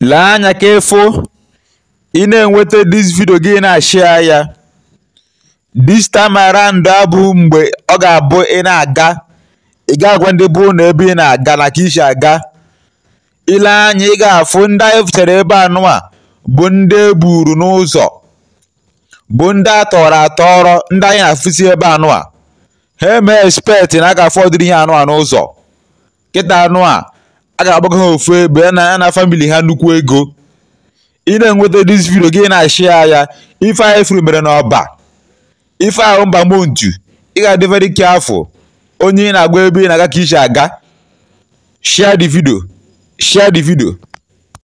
lee anya ka ị fụ ị na-enweta dis vidio gị na-ashịa ya dis time around abụ mgbe ọ ga-abụ ị na-aga ị ga-agwa ndị ọbụna ebe ị na-aga na ka i si aga i lee anya ị ga-afụ ndị anyị fụchara ebe anụwa bụ ndị e buru n'ụzọ bụ ndị a tọrọ atọrọ ndị anyị na-afụsi ebe anụwa ha eme expect na ha ga-afụ ụdịrị ihe anụwa n'ụzọ kịta anụwa a ga-akpọga ha ofu ebe ana famili ha nnukwu ego ị na-enweta dis vidio gị na-ashịa ya ife anyị fụrụ mere n'ọba ife ahụ ember month ị ga-adị very careful onye ị na-agwa ebe ị na-aga ka i si aga share the video share the video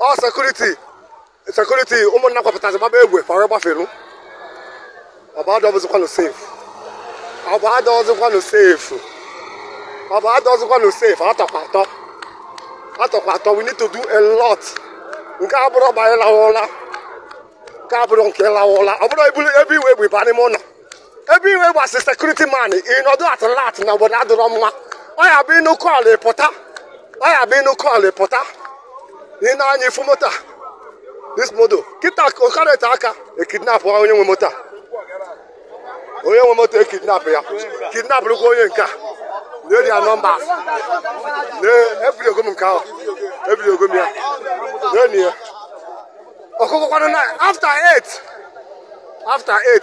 ọ sekuriti sekuriti ụmụnna kwapụtazi gbaba egbe fa wee gbafelu ọba adịrọzikwanụ safe ọba adịrọzikwanụ safe ọba adịrọzikwanụ safe atọkwa atọ atọkwa atọ we need to do a lot nke a abụrọ mgbe anyị lawa ụla nke a abụrọ nke ịlawa ụla ọ bụrụ ebulu ebe i wee egbe ba n'ime ụlọ ebe iwe gbasị sekuriti man ị nọdụ alert na obodo adịrọ mma ọ ya bụ ị nụ call ị pụta ọ ya bụ ị nụ call ị pụta i nee anya ị fụ moto a, this moto kịta okarịta aka ekidnap onye nwe moto a. onye nwe moto ekidnap ya kidnap rụkwa onye nke a na-eri ya nọmba ebidogo m nke ahụ ebidogo m ya na-enyi ya ọkụkọ kwanụ na after 8 after 8